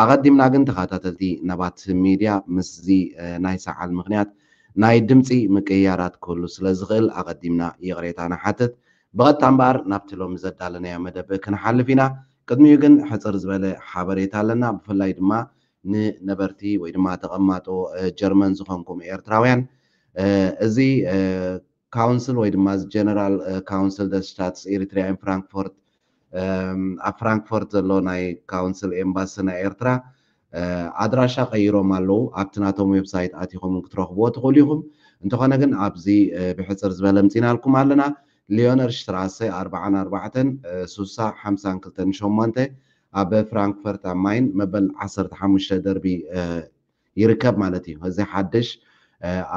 ኣቐዲምና ግን ተኻታተልቲ ነባት ሚድያ ምስዚ ናይ ሰዓል ምኽንያት ናይ ድምጺ ምቅይያራት ክህሉ ስለ ዝኽእል ኣቐዲምና ይቕሬታ ንሓትት። ብቐጥታ እምበኣር ናብቲ ሎሚ ዘዳለናዮ መደብ ክንሓልፍ ኢና። ቅድሚኡ ግን ሕጽር ዝበለ ሓበሬታ ኣለና ብፍላይ ድማ ንነበርቲ ወይ ድማ ተቐማጦ ጀርመን ዝኾንኩም ኤርትራውያን እዚ ካውንስል ወይ ድማ እዚ ጀነራል ካውንስል ደስ ስታትስ ኤሪትሪያ ኢን ፍራንክፎርት ኣብ ፍራንክፎርት ዘሎ ናይ ካውንስል ኤምባሲ ናይ ኤርትራ ኣድራሻ ቀይሮም ኣለዉ ኣብቲ ናቶም ዌብሳይት ኣቲኹም ን ክትረኽብዎ ትኽእሉ ኢኹም እንተኾነ ግን ኣብዚ ብሕጽር ዝበለ ኣምጺናልኩም ኣለና ሊዮነር ሽትራሰ ኣርብዓን ኣርባዕተን ሱሳ ሓምሳን ክልተን ሸሞንተ ኣብ ፍራንክፈርት ኣም ማይን መበል ዓሰርተ ሓሙሽተ ደርቢ ይርከብ ማለት እዩ። እዚ ሓድሽ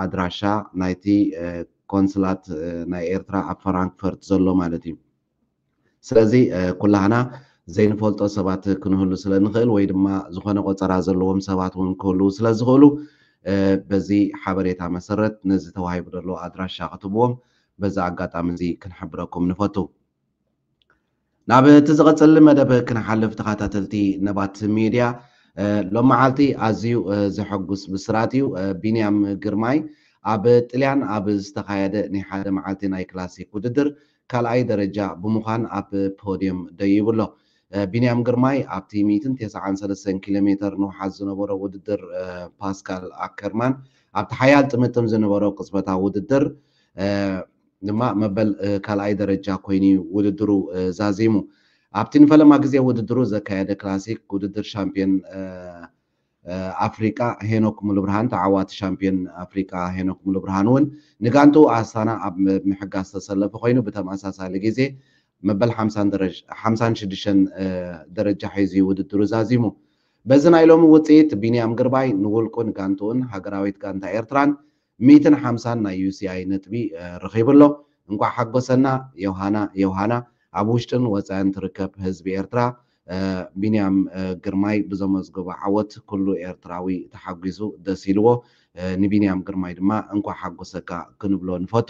ኣድራሻ ናይቲ ቆንስላት ናይ ኤርትራ ኣብ ፈራንክፈርት ዘሎ ማለት እዩ። ስለዚ ኩላህና ዘይንፈልጦ ሰባት ክንህሉ ስለ ንኽእል ወይ ድማ ዝኾነ ቆጸራ ዘለዎም ሰባት እውን ክህልዉ ስለ ዝኽእሉ በዚ ሓበሬታ መሰረት ነዚ ተዋሂቡ ዘሎ ኣድራሻ ክትብዎም በዚ ኣጋጣሚ እዚ ክንሕብረኩም ንፈቱ። ናብ እቲ ዝቐፅል መደብ ክንሓልፍ ተኸታተልቲ ነባት ሚድያ ሎም መዓልቲ ኣዝዩ ዘሐጉስ ብስራት እዩ ቢንያም ግርማይ ኣብ ጥልያን ኣብ ዝተኻየደ ናይ ሓደ መዓልቲ ናይ ክላሲክ ውድድር ካልኣይ ደረጃ ብምዃን ኣብ ፖድየም ደይቡ ኣሎ ቢንያም ግርማይ ኣብቲ ሚእትን ተሰዓን ሰለስተን ኪሎ ሜተር ንውሓት ዝነበሮ ውድድር ፓስካል ኣከርማን ኣብቲ ሓያል ጥምጥም ዝነበሮ ቅፅበታዊ ውድድር ድማ መበል ካልኣይ ደረጃ ኮይኑ'ዩ ውድድሩ ዛዚሙ። ኣብቲ ንፈለማ ግዜ ውድድሩ ዘካየደ ክላሲክ ውድድር ሻምፕዮን ኣፍሪቃ ሄኖክ ሙሉብርሃን ተዓዋቲ ሻምፕዮን ኣፍሪቃ ሄኖክ ሙሉብርሃን'ውን ንጋንትኡ ኣስታና ኣብ ምሕጋዝ ዝተሰለፈ ኮይኑ ብተመሳሳሊ ግዜ መበል ሓምሳን ሽዱሽተን ደረጃ ሒዙ'ዩ ውድድሩ ዛዚሙ። በዚ ናይ ሎሚ ውጽኢት ቢንያም ግርባይ ንውልቁን ጋንትኡን ሃገራዊት ጋንታ ኤርትራን ሚእትን ሓምሳን ናይ UCI ነጥቢ ረኺቡ ኣሎ። እንቋዕ ሓጎሰና ዮውሃና ዮውሃና ኣብ ውሽጥን ወጻእን ትርከብ ህዝቢ ኤርትራ ቢንያም ግርማይ ብዘመዝገቦ ዓወት ኩሉ ኤርትራዊ ተሓጒሱ ደስ ኢልዎ ንቢንያም ግርማይ ድማ እንቋዕ ሓጎሰካ ክንብሎ ንፈቱ።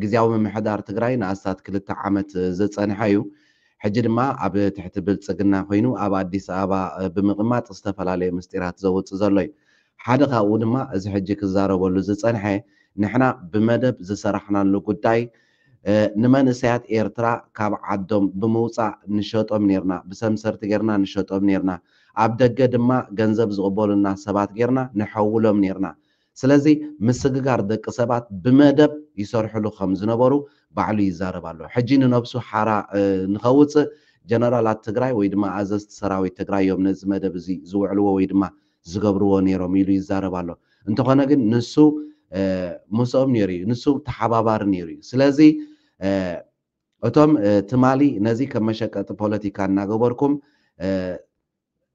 ግዝያዊ ምምሕዳር ትግራይ ንኣስታት ክልተ ዓመት ዝፀንሐ እዩ። ሕጂ ድማ ኣብ ትሕቲ ብልፅግና ኮይኑ ኣብ ኣዲስ ኣበባ ብምቕማጥ ዝተፈላለዩ ምስጢራት ዘውፅእ ዘሎ እዩ። ሓደ ካብኡ ድማ እዚ ሕጂ ክዛረበሉ ዝፀንሐ ንሕና ብመደብ ዝሰራሕናሉ ጉዳይ ንመንእሰያት ኤርትራ ካብ ዓዶም ብምውፃእ ንሸጦም ኔርና፣ ብሰምሰርቲ ጌርና ንሸጦም ኔርና፣ ኣብ ደገ ድማ ገንዘብ ዝቕበሉና ሰባት ጌርና ንሐውሎም ኔርና፣ ስለዚ ምስግጋር ደቂ ሰባት ብመደብ ይሰርሕሉ ከም ዝነበሩ ባዕሉ ይዛረብ ኣሎ። ሕጂ ንነብሱ ሓራ ንኸውጽእ ጀነራላት ትግራይ ወይ ድማ ኣዘዝቲ ሰራዊት ትግራይ እዮም ነዚ መደብ እዚ ዝውዕልዎ ወይ ድማ ዝገብርዎ ነይሮም ኢሉ ይዛረብ ኣሎ። እንተኾነ ግን ንሱ ምስኦም ነይሩ እዩ። ንሱ ተሓባባሪ ነይሩ እዩ። ስለዚ እቶም ትማሊ ነዚ ከም መሸቀጢ ፖለቲካ እናገበርኩም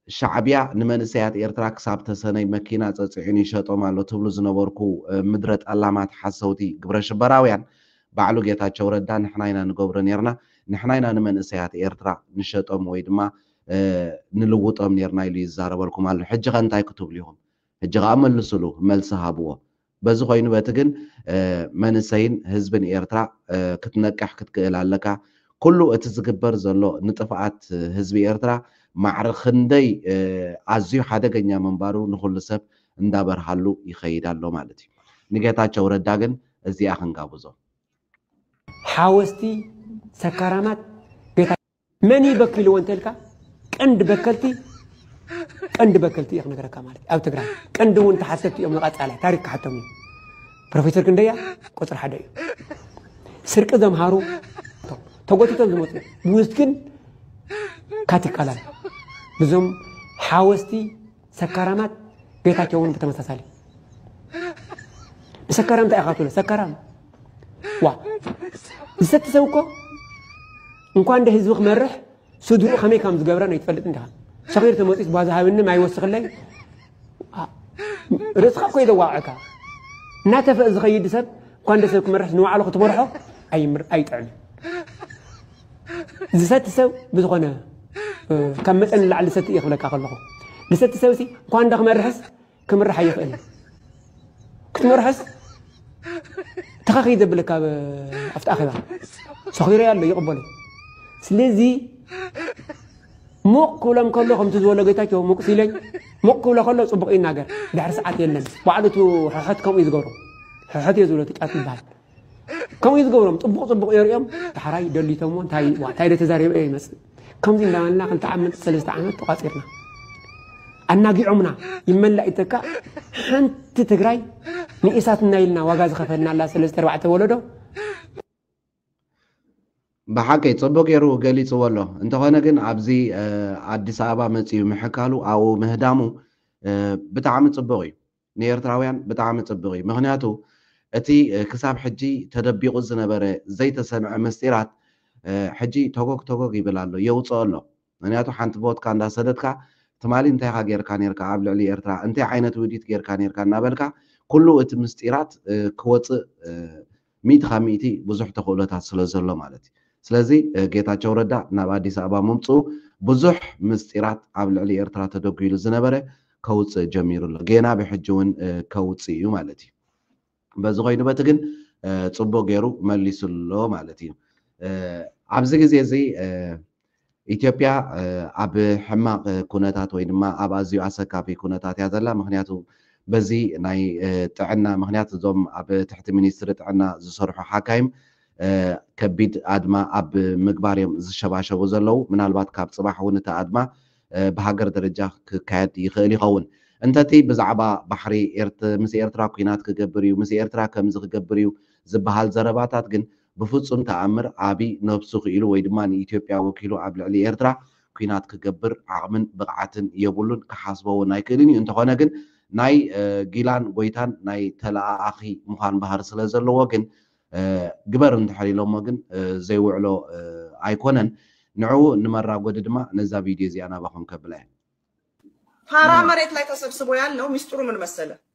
ሻዕቢያ ንመንእሰያት ኤርትራ ክሳብ ተሰነይ መኪና ጸጺዑን ይሸጦም ኣሎ ትብሉ ዝነበርኩ ምድረ ጠላማት ሓሰውቲ ግብረ ሽበራውያን ባዕሉ ጌታቸው ረዳ ንሕና ኢና ንገብሮ ኔርና ንሕና ኢና ንመንእሰያት ኤርትራ ንሸጦም ወይ ድማ ንልውጦም ኔርና ኢሉ ይዛረበልኩም ኣሎ ሕጂኸ እንታይ ክትብሉ ኢኹም ሕጂ ከኣ መልስሉ መልሲ ሃብዎ በዚ ኮይኑ በቲ ግን መንሰይን ህዝብን ኤርትራ ክትነቅሕ ክትክእል ኣለካ ኩሉ እቲ ዝግበር ዘሎ ንጥፍኣት ህዝቢ ኤርትራ ማዕረ ክንደይ ኣዝዩ ሓደገኛ ምንባሩ ንኩሉ ሰብ እንዳበርሃሉ ይከይድ ኣሎ ማለት እዩ ንጌታቸው ረዳ ግን እዚኣ ክንጋብዞ። ሓወስቲ ሰካራማት ቤት መን እዩ በኪልዎ እንተልካ ቀንዲ በከልቲ ቀንዲ በከልቲ እየ ክነገረካ ማለት ኣብ ትግራይ ቀንዲ እውን ተሓሰብቲ እዮም ንቐፃላይ ታሪክ ክሓቶም እዩ ፕሮፌሰር ክንደያ ቁፅሪ ሓደ እዩ ስርቂ ዘምሃሩ ተጎቲቶም ዝመፁ ብውስኪን ካቲካላን ብዞም ሓወስቲ ሰካራማት ጌታቸው እውን ብተመሳሳሊ ንሰካራም እንታይ ኢኻ ትብሎ ሰካራም ዋ ዝሰቲ ሰብ እኮ እንኳን እንደ ህዝቢ ክመርሕ ስድሩ ከመይ ከም ዝገብረ ነይትፈልጥ እንዲኻ ሰኺር ተመፂስ ቧዛ ሃብኒ ማይ ወስኽለይ ርእስኻ እኮ እዩ ዘዋቕዐካ እናተፈእ ዝኸይድ ሰብ እንኳን እንደ ሰብ ክመርሕ ንባዕሉ ክትመርሖ ኣይጥዕምን ዝሰቲ ሰብ ብዝኾነ ካብ መጠን ንላዕሊ ዝሰቲ እየ ክብለካ ከለኹ ዝሰቲ ሰብ ሲ እኳ እንዳ ክመርሕስ ክምራሕ ኣይኽእል እዩ ክትመርሖስ ተኸኺ ዘብለካ ኣብቲ ኣኼባ ሰኺሮ ኣሎ ይቕበሉ ስለዚ ሙቕ ክብሎም ከሎ ከምቲ ዝበሎ ጌታቸው ሙቕ ሲለኝ ሙቕ ክብሎ ከሎ ፅቡቕ ይናገር ድሕሪ ሰዓት የለን ባዕሉ እቲ ሕሕት ከምኡ እዩ ዝገብሮ ሕሕት እየ ዝብሎ እቲ ጫት ይበሃል ከምኡ እዩ ዝገብሮም ፅቡቕ ፅቡቕ የርእዮም ዳሕራይ ደሊቶሞ እንታይ ዋ እንታይ ዶ ተዛሪበ እየ ይመፅእ ከምዚ እንዳበልና ክልተ ዓመት ሰለስተ ዓመት ተቋፂርና ኣናጊዖምና ይመላእ ይተካ ሓንቲ ትግራይ ንኢሳት እናኢልና ዋጋ ዝኸፈልናላ ሰለስተ ኣርባዕተ ወለዶ ብሓቂ ፅቡቅ ገይሩ ገሊፅዎ ኣሎ እንተኾነ ግን ኣብዚ ኣዲስ ኣበባ መፅኡ ምሕካሉ ኣብኡ ምህዳሙ ብጣዕሚ ፅቡቅ እዩ ንኤርትራውያን ብጣዕሚ ጽብቅ እዩ ምክንያቱ እቲ ክሳብ ሕጂ ተደቢቁ ዝነበረ ዘይተሰምዐ ምስጢራት ሕጂ ቶጎግ ቶጎግ ይብል ኣሎ የውጽኦ ኣሎ ምክንያቱ ሓንቲ ቮትካ እንዳ ሰደድካ ትማሊ እንታይ ኢካ ጌርካ ኔርካ ኣብ ልዕሊ ኤርትራ እንታይ ዓይነት ውዲት ጌርካ ኔርካ እናበልካ ኩሉ እቲ ምስጢራት ክወጽእ ሚእቲ ካብ ሚእቲ ብዙሕ ተኽእሎታት ስለ ዘሎ ማለት እዩ። ስለዚ ጌታቸው ረዳ ናብ ኣዲስ ኣበባ ምምፅኡ ብዙሕ ምስጢራት ኣብ ልዕሊ ኤርትራ ተደጒሉ ዝነበረ ከውፅእ ጀሚሩ ኣሎ። ጌና ብሕጂ እውን ከውፅእ እዩ ማለት እዩ። በዚ ኮይኑ በቲ ግን ፅቡቕ ገይሩ መሊሱ ኣሎ ማለት እዩ። ኣብዚ ግዜ እዚ ኢትዮጵያ ኣብ ሕማቕ ኩነታት ወይ ድማ ኣብ ኣዝዩ ኣሰካፊ ኩነታት እያ ዘላ። ምክንያቱ በዚ ናይ ጥዕና ምክንያት እዞም ኣብ ትሕቲ ሚኒስትሪ ጥዕና ዝሰርሑ ሓካይም ከቢድ ኣድማ ኣብ ምግባር እዮም ዝሸባሸቡ ዘለዉ። ምናልባት ካብ ፅባሕ እውን እቲ ኣድማ ብሃገር ደረጃ ክካየድ ይኽእል ይኸውን። እንተቲ ብዛዕባ ባሕሪ ምስ ኤርትራ ኩናት ክገብር እዩ ምስ ኤርትራ ከምዚ ክገብር እዩ ዝበሃል ዘረባታት ግን ብፍጹም ተኣምር ኣቢይ ነብሱ ክኢሉ ወይ ድማ ንኢትዮጵያ ወኪሉ ኣብ ልዕሊ ኤርትራ ኲናት ክገብር ዓቕምን ብቕዓትን የብሉን ክሓስቦ ውን ኣይክእልን እዩ እንተኾነ ግን ናይ ጊላን ጎይታን ናይ ተለኣኣኺ ምዃን ባህሪ ስለ ዘለዎ ግን ግበር እንድሕር ኢሎሞ ግን ዘይውዕሎ ኣይኮነን ንዕኡ ንመራጎዲ ድማ ነዛ ቪድዮ እዚኣ ናባኹም ከብላ እየ። ፋራ መሬት ላይ ተሰብስቦ ያለው ሚስጥሩ ምን መሰለህ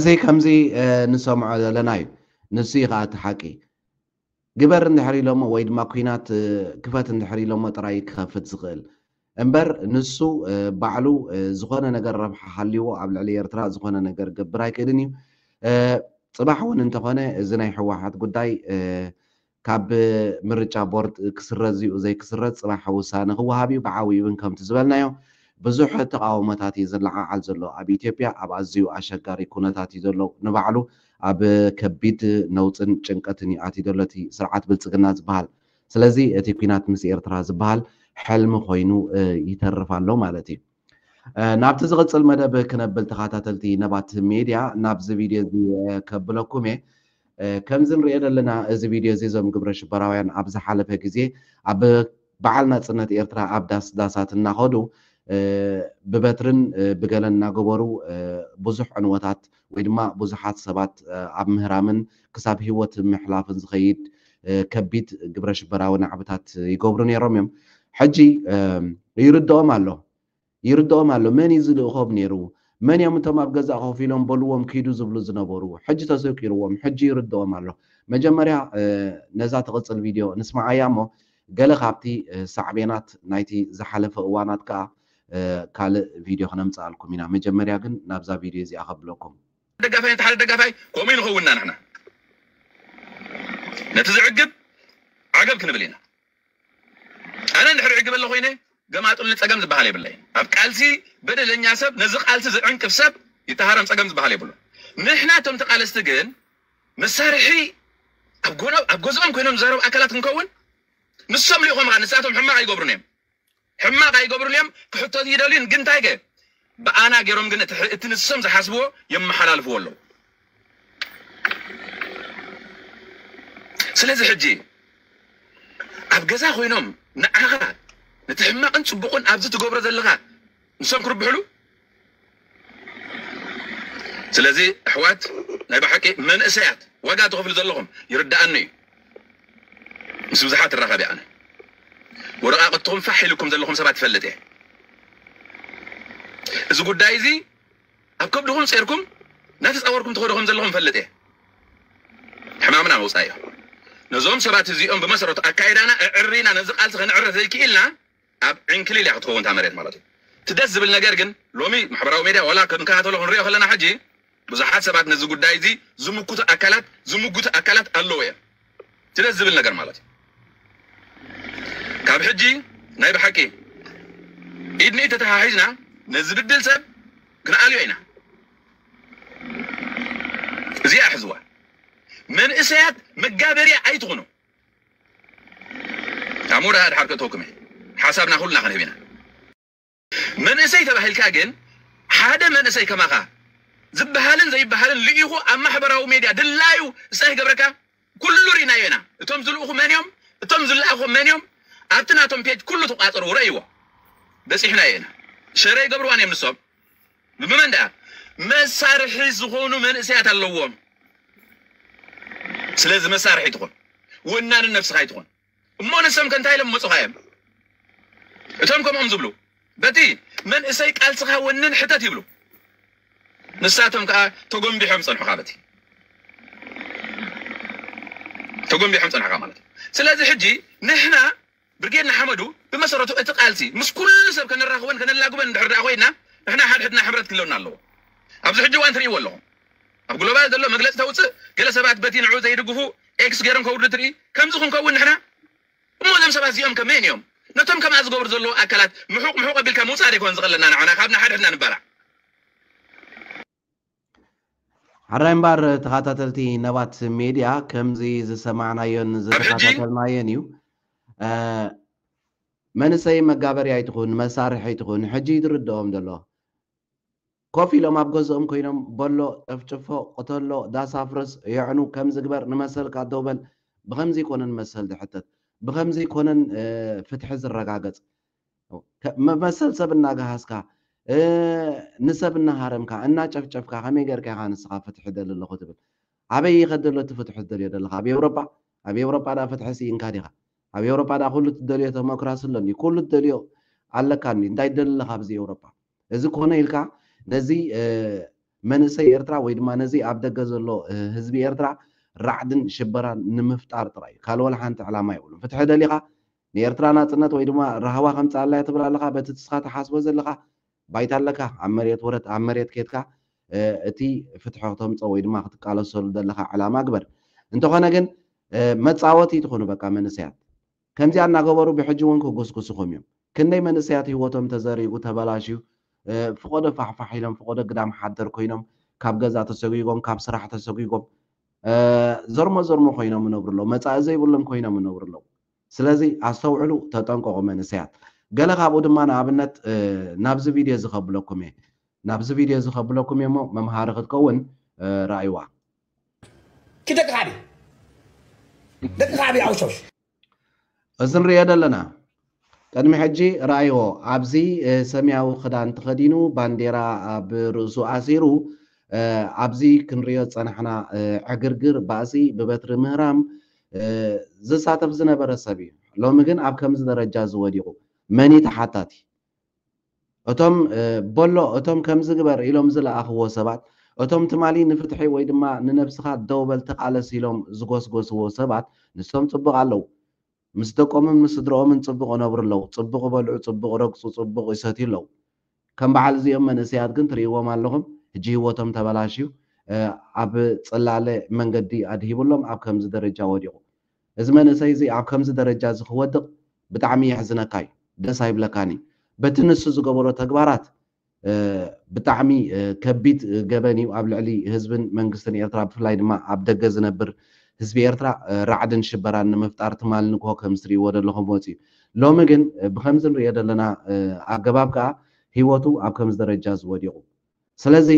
እዚ ከምዚ ንሰምዖ ዘለና እዩ ንሱ እዩ ከኣ እቲ ሓቂ። ግበር እንድሕር ኢሎሞ ወይ ድማ ኩናት ክፈት እንድሕር ኢሎሞ ጥራይ እዩ ክኸፍት ዝኽእል። እምበር ንሱ ባዕሉ ዝኾነ ነገር ረብሓ ሃልይዎ ኣብ ልዕሊ ኤርትራ ዝኾነ ነገር ክገብር ኣይክእልን እዩ። ጽባሕ እውን እንተኾነ እዚ ናይ ሕዋሓት ጉዳይ ካብ ምርጫ ቦርድ ክስረዝ'ዩ ዘይክስረዝ ጽባሕ ውሳነ ክወሃብ'ዩ ብዓብዩ'ውን ከምቲ ዝበልናዮ ብዙሕ ተቓውሞታት'ዩ ዝለዓዓል ዘሎ። ኣብ ኢትዮጵያ ኣብ ኣዝዩ ኣሸጋሪ ኩነታት'ዩ ዘሎ። ንባዕሉ ኣብ ከቢድ ነውጽን ጭንቀትን'ዩ ኣትዩ ዘሎ እቲ ስርዓት ብልጽግና ዝበሃል። ስለዚ እቲ ኲናት ምስ ኤርትራ ዝበሃል ሕልሚ ኮይኑ ይተርፍ ኣሎ ማለት'ዩ። ናብቲ ዝቕጽል መደብ ክነብል ተኻታተልቲ ነባት ሜድያ ናብዚ ቪድዮ እዚ ከብለኩም እየ። ከምዚ ንርእዮ ዘለና እዚ ቪድዮ እዚ እዞም ግብረ ሽበራውያን ኣብ ዝሓለፈ ግዜ ኣብ በዓል ናጽነት ኤርትራ ኣብ ዳስ ዳሳት እናኸዱ ብበትርን ብገለን እናገበሩ ብዙሕ ዕንወታት ወይ ድማ ብዙሓት ሰባት ኣብ ምህራምን ክሳብ ህይወት ምሕላፍን ዝኸይድ ከቢድ ግብረሽበራዊ ናዕብታት ይገብሩ ነይሮም እዮም። ሕጂ ይርድኦም ኣሎ። ይርድኦም ኣሎ። መን እዩ ዝልእኾም ነይሩ? መን እዮም እቶም ኣብ ገዛ ኮፍ ኢሎም በሉዎም ኪዱ ዝብሉ ዝነበሩ? ሕጂ ተሰቂሩዎም። ሕጂ ይርድኦም ኣሎ። መጀመርያ ነዛ ትቕጽል ቪድዮ ንስምዓያ እሞ ገለ ካብቲ ሳዕቤናት ናይቲ ዝሓለፈ እዋናት ከኣ ካልእ ቪድዮ ክነምጽኣልኩም ኢና መጀመርያ ግን ናብዛ ቪድዮ እዚኣ ከብለኩም። ደጋፋይ ነቲ ሓደ ደጋፋይ ከምኡ ንኸውንና ንሕና ነቲ ዝዕግብ ዓገብ ክንብል ኢና ኣነ እንድሕር ዕግብ ኣለ ኮይነ ገማጥሉ ጸገም ዝበሃል የብለይ ኣብ ቃልሲ በደለኛ ሰብ ነዚ ቃልሲ ዝዕንቅፍ ሰብ ይተሃረም ጸገም ዝበሃል የብሉ ንሕና እቶም ተቃለስቲ ግን መሳርሒ ኣብ ጎነ ኣብ ገዝኦም ኮይኖም ዝዛረቡ ኣካላት ክንከውን ንሶም ልኢኾም ንሳቶም ሕማቅ ኣይገብሩን እዮም ሕማቅ ኣይገብሩን እዮም ክሕተቱ ይደልዩን ግን ታይ ከ ብኣና ገይሮም ግን እቲ ንሶም ዝሓስብዎ የመሓላልፍዎ ኣለው ስለዚ ሕጂ ኣብ ገዛ ኮይኖም ንዓካ ነቲ ሕማቅን ፅቡቅን ኣብዚ ትገብሮ ዘለካ ንሶም ክርብሕሉ ስለዚ ኣሕዋት ናይ ብሓቂ መንእሰያት ዋጋ ትኸፍሉ ዘለኹም ይርድኣኒ እዩ ምስ ብዙሓት እራኸብ እየ ኣነ ወረቓቕትኹም ፋሕ ኢሉኩም ዘለኹም ሰባት ይፈልጥ እየ እዚ ጉዳይ እዚ ኣብ ከብድኹም ጼርኩም እናተጻወርኩም ትኸዱ ከም ዘለኹም ይፈልጥ እየ ሕማምና መውጻኢ እዩ ነዞም ሰባት እዚኦም ብመሰረቱ ኣካይዳና እዕሪና ነዚ ቃልሲ ከነዕርፍ ዘይክኢልና ኣብ ዕንክሊል እያ ክትከውን እታ መሬት ማለት እዩ። እቲ ደስ ዝብል ነገር ግን ሎሚ ማሕበራዊ ሜድያ ዋላ ክንከታተሎ ክንሪኦ ከለና ሕጂ ብዙሓት ሰባት ነዚ ጉዳይ እዚ ዝምኩቱ ኣካላት ዝምጉቱ ኣካላት ኣለዉ እዮም። እቲ ደስ ዝብል ነገር ማለት እዩ ካብ ሕጂ ናይ ብሓቂ ኢድ ንኢድ ተተሓሒዝና ነዚ ብድል ሰብ ክንኣልዮ ኢና። እዚኣ ሕዝዋ መንእሰያት መጋበርያ ኣይትኹኑ። ኣሞ ደኣ ድሓር ከእተወኩም እየ ሓሳብና ኩልና ክንህብ ኢና። መንእሰይ ተባሂልካ ግን ሓደ መንእሰይ ከማኻ ዝበሃልን ዘይበሃልን ልኢኹ ኣብ ማሕበራዊ ሜድያ ድላዩ ዝታይ ክገብረካ ኩሉ ሪእናዮ ኢና እቶም ዝልእኹ መን እዮም እቶም ዝለኣኹ መን እዮም ኣብቲ ናቶም ፔጅ ኩሉ ተቋጽርዎ ረእይዎ በጺሕናዮ ኢና ሸረ ይገብርዋን እዮም ንሶም ብመን ደኣ መሳርሒ ዝኾኑ መንእሰያት ኣለዎም። ስለዚ መሳርሒ ኣይትኹን፣ ወናኒ ነብስኻ ኣይትኹን። እሞ ንሶም ከ እንታይ ኢሎም መጹኻዮም? እቶም ከምኦም ዝብሉ በቲ መንእሰይ ቃልስኻ ወንን ሕተት ይብሉ። ንሳቶም ከኣ ተጎምቢሖም ጸንሑኻ በቲ ተጎምቢሖም ጸንሑኻ ማለት እዩ። ስለዚ ሕጂ ንሕና ብርጌድ ንሓመዱ ብመሰረቱ እቲ ቃልሲ ምስ ኩሉ ሰብ ከነራኽቦን ከነላግቦን እንድሕር ድኣ ኮይና ንሕና ሓድሕድና ሕብረት ክህለወና ኣለዎ። ኣብዚ ሕጂ እዋን ትርእይዎ ኣለኹም ኣብ ግሎባል ዘሎ መግለጺ ተውጽእ ገለ ሰባት በቲ ንዕኡ ዘይድግፉ ኤክስ ገይሮም ከውርዱ ትርኢ ከምዚ ክንከውን ንሕና እሞ እዞም ሰባት እዚኦም ከ መን እዮም ነቶም ከምኣ ዝገብሩ ዘለዉ ኣካላት ምሑቕ ምሑቕ ኣቢልካ ምውጻእ ዶ ኣይኮነን ዝቐለና ንዓና ካብ ንሓድሕድና ንባላዕ። ሐራይ እምባር ተኻታተልቲ ነባት ሜድያ ከምዚ ዝሰማዕናዮን ዝተኻታተልናዮን እዩ መንሰይ መጋበሪ ኣይትኹን መሳርሒ ኣይትኹን ሕጂ ይድርድኦም ዘሎ ኮፍ ኢሎም ኣብ ገዝኦም ኮይኖም በሎ ጨፍጭፎ ቅተሎ ዳሳ ፍርስ የዕኑ ከምዚ ግበር ንመሰልካ ደውበል ብኸምዚ ኮነን መሰል ዝሕተት ብኸምዚ ኮነን ፍትሒ ዝረጋገጽ መሰል ሰብ እናገሃስካ፣ ንሰብ እናሃረምካ፣ እናጨፍጨፍካ ከመይ ጌርካ ኢኻ ንስኻ ፍትሒ እደሊ ኣለኹ ትብል? ኣበይ እዩ ከድሎ እቲ ፍትሑ ትደልዮ ዘለኻ? ኣብ ኤውሮጳ? ኣብ ኤውሮጳ ደኣ ፍትሒ ስኢንካ ዲኻ? ኣብ ኤውሮጳ ደኣ ኩሉ እትደልዮ ተሞክራሲ ኣሎ እንድዩ፣ ኩሉ እትደልዮ ኣለካ እንድዩ፣ እንታይ ትደሊ ኣለኻ ኣብዚ ኤውሮጳ? እዚ ኮነ ኢልካ ነዚ መንእሰይ ኤርትራ ወይ ድማ ነዚ ኣብ ደገ ዘሎ ህዝቢ ኤርትራ ራዕድን ሽበራን ንምፍጣር ጥራይ እዩ። ካልእ ወላ ሓንቲ ዕላማ የብሉን። ፍትሒ ደሊኻ ንኤርትራ ናጽነት ወይ ድማ ራህዋ ከምጽኣላ'የ ትብል ኣለኻ በቲ ንስኻ ትሓስቦ ዘለኻ ባይታ ኣለካ ኣብ መሬት ውረድ ኣብ መሬት ኬድካ እቲ ፍትሒ ክተምጽኦ ወይ ድማ ክትቃለሰሉ ዘለኻ ዕላማ ግበር እንተኾነ ግን መጻወቲ ኣይትኹኑ በቃ መንእሰያት ከምዚኣ እናገበሩ ብሕጂ እውን ክጉስጉሱኹም እዮም ክንደይ መንእሰያት ህይወቶም ተዘሪጉ ተበላሽዩ ፍቆዶ ፋሕፋሕ ኢሎም ፍቆዶ ግዳም ሓደር ኮይኖም ካብ ገዛ ተሰጒጎም ካብ ስራሕ ተሰጒጎም ዘርሞ ዘርሞ ኮይኖም ይነብሩ ኣለዉ መጻኢ ዘይብሎም ኮይኖም ይነብሩ ኣለዉ ስለዚ ኣስተውዕሉ ተጠንቀቁ መንእሰያት። ገለ ካብኡ ድማ ንኣብነት ናብዚ ቪድዮ እዚ ከብለኩም እየ። ናብዚ ቪድዮ እዚ ከብለኩም እየ እሞ መምሃሪ ክትከውን ርኣይዋ። ኪድ ደቂ ከዕቢ ደቂ ከዕቢ ኣውሾሽ። እዚ ንርእዮ ዘለና ቅድሚ ሕጂ ረኣይዎ ኣብዚ ሰማያዊ ክዳን ተኸዲኑ ባንዴራ ኣብ ርእሱ ኣሲሩ ኣብዚ ክንርእዮ ዝጸናሕና ዕግርግር ባእሲ ብበትሪ ምህራም ዝሳተፍ ዝነበረ ሰብ እዩ። ሎሚ ግን ኣብ ከምዚ ደረጃ እዚ ወዲቑ። መን እዩ ተሓታቲ? እቶም በሎ እቶም ከምዚ ግበር ኢሎም ዝለኣኽዎ ሰባት፣ እቶም ትማሊ ንፍትሒ ወይ ድማ ንነብስኻ ደው በል ተቓለስ ኢሎም ዝጎስጎስዎ ሰባት ንሶም ጽቡቕ ኣለዉ። ምስ ደቆምን ምስ ስድርኦምን ጽቡቕ ይነብሩ ኣለዉ፣ ጽቡቕ ይበልዑ፣ ጽቡቕ ይረግጹ፣ ጽቡቕ ይሰትዩ ኣለዉ። ከም በዓል እዚኦም መንእሰያት ግን ትርእይዎም ኣለኹም ሕጂ ሂወቶም ተበላሽዩ ኣብ ጽላለ መንገዲ ኣድሂብሎም ኣብ ከምዚ ደረጃ ወዲቑ እዚ መንእሰይ እዚ ኣብ ከምዚ ደረጃ እዚ ክወድቕ ብጣዕሚ የሕዝነካ እዩ ደስ ኣይብለካን እዩ በቲ ንሱ ዝገበሮ ተግባራት ብጣዕሚ ከቢድ ገበን እዩ ኣብ ልዕሊ ህዝብን መንግስትን ኤርትራ ብፍላይ ድማ ኣብ ደገ ዝነብር ህዝቢ ኤርትራ ራዕድን ሽበራን ንምፍጣር ትማል ንግሆ ከምዚ ትርእይዎ ዘለኹም ወጺኡ ሎሚ ግን ብኸምዚ ንርእዮ ዘለና ኣገባብ ከኣ ህይወቱ ኣብ ከምዚ ደረጃ እዚ ወዲቑ። ስለዚ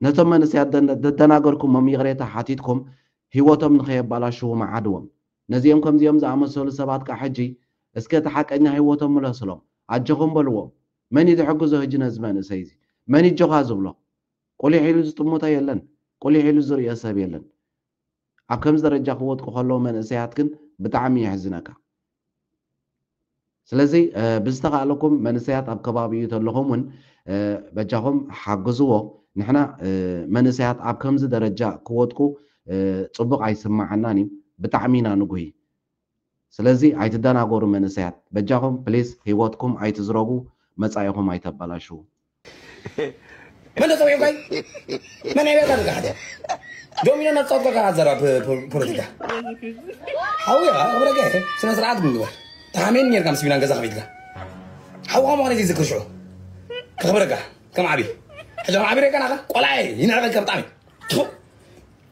ነቶም መንእሰያት ዘደናገርኩሞም ይቕሬታ ሓቲትኩም ህይወቶም ንኸየባላሽዉ መዓድዎም። ነዚኦም ከምዚኦም ዝኣመሰሉ ሰባት ከኣ ሕጂ እስከ እቲ ሓቀኛ ህይወቶም ምለስሎም። ኣጆኹም በልዎም። መን እዩ ዝሕግዞ ህጂ ነዚ መንእሰይ እዚ? መን እዩ ኣጆኻ ዝብሎ? ቁሊሕ ኢሉ ዝጥምቶ የለን። ቁሊሕ ኢሉ ዝርእዮ ሰብ የለን። ኣብ ከምዚ ደረጃ ክወድቁ ከለዉ መንእሰያት ግን ብጣዕሚ የሕዝነካ ስለዚ ብዝተካእለኩም መንእሰያት ኣብ ከባቢኡ ተለኹም ውን በጃኹም ሓግዝዎ ንሕና መንእሰያት ኣብ ከምዚ ደረጃ ክወድቁ ጽቡቅ ኣይስማዓናን እዩ ብጣዕሚ ኢና ንጉሂ ስለዚ ኣይትደናጎሩ መንእሰያት በጃኹም ፕሊስ ሂወትኩም ኣይትዝረጉ መጻኢኹም ኣይተበላሽዉ። መን ተጸዊዑ ካይ መን ዕብየት ኣድርጋ ሕተ ዶሚኖ ናብ ጸወት ገብካ ዘራ ፖለቲካ ሓውያ ክብረገ ስነ ስርዓት ምግበር ተሓሜን ኔርካ ምስ ቢናን ገዛ ከፊትካ ሓውኻ ምዃነ ዘይዝክር ሽዑ ከኽብረካ ከም ዓብይ ሕጂ ከም ዓብይ ሬካ ናኻ ቆልዓ ይንዕቐካ ብጣዕሚ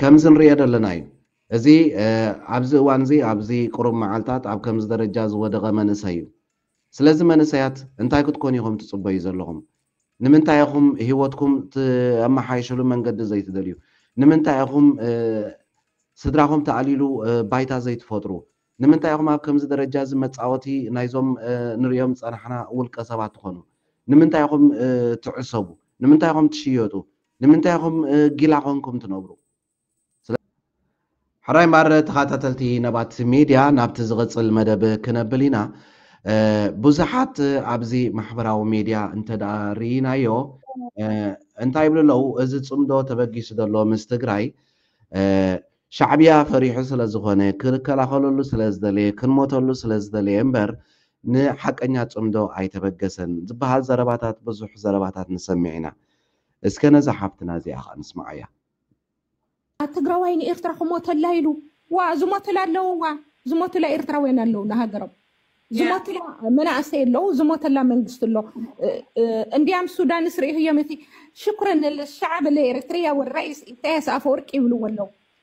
ከምዚ ንርእዮ ዘለና እዩ። እዚ ኣብዚ እዋን እዚ ኣብዚ ቁሩብ መዓልታት ኣብ ከምዚ ደረጃ ዝወደቐ መንእሰይ እዩ። ስለዚ መንእሰያት እንታይ ክትኮኑ ኢኹም ትጽበዩ ዘለኹም? ንምንታይ ኢኹም ህይወትኩም ተመሓይሽሉ መንገዲ ዘይትደልዩ? ንምንታይ ኢኹም ስድራኹም ተኣልይሉ ባይታ ዘይትፈጥሩ? ንምንታይ ኢኹም ኣብ ከምዚ ደረጃ እዚ መጻወቲ ናይዞም ንርእዮም ዝጸናሕና ውልቀ ሰባት ትኾኑ? ንምንታይ ኢኹም ትዕሰቡ? ንምንታይ ኢኹም ትሽየጡ? ንምንታይ ኢኹም ጊላ ኮንኩም ትነብሩ? ሕራይ እምበኣር ተኻታተልቲ ነባት ሜድያ ናብቲ ዝቕጽል መደብ ክነብል ኢና። ብዙሓት ኣብዚ ማሕበራዊ ሜድያ እንተድኣ ርኢናዮ እንታይ ይብሉ ኣለዉ እዚ ጽምዶ ተበጊሱ ዘሎ ምስ ትግራይ ሻዕብያ ፈሪሑ ስለ ዝኾነ ክከላኸለሉ ስለ ዝደለየ ክንሞተሉ ስለ ዝደለየ እምበር ንሓቀኛ ጽምዶ ኣይተበገሰን ዝበሃል ዘረባታት ብዙሕ ዘረባታት ንሰምዕ ኢና። እስከ ነዛ ሓፍትና እዚኣ ከኣ ንስምዓያ። ኣቲ ትግራዋይ ንኤርትራ ክሞተላ ኢሉ ዋእ ዝሞትላ ኣለው ዋእ ዝሞትላ ኤርትራውያን ኣለው ንሃገሮም ዝሞትላ መናእሰይ ኣለው ዝሞተላ መንግስቲ ኣሎ እንዲያም ሱዳንስ ርኢኽዮም እቲ ሽኩረን ሻዕብ ለኤርትርያ ወራይስ ኢሳያስ ኣፈወርቂ ይብልዎ ኣለው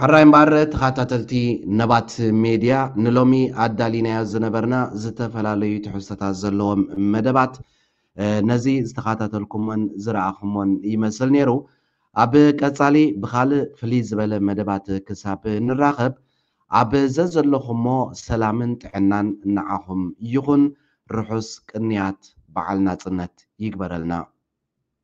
ሕራይ እምበኣር ተኸታተልቲ ነባት ሜድያ ንሎሚ ኣዳሊናዮ ዝነበርና ዝተፈላለዩ ትሕዝቶታት ዘለዎም መደባት ነዚ ዝተኸታተልኩሞን ዝረኣኹሞን ይመስል ነይሩ ኣብ ቀጻሊ ብኻልእ ፍልይ ዝበለ መደባት ክሳብ ንራኸብ ኣብ ዘዘለኹሞ ሰላምን ጥዕናን ንዓኹም ይኹን ርሑስ ቅንያት በዓል ናጽነት ይግበረልና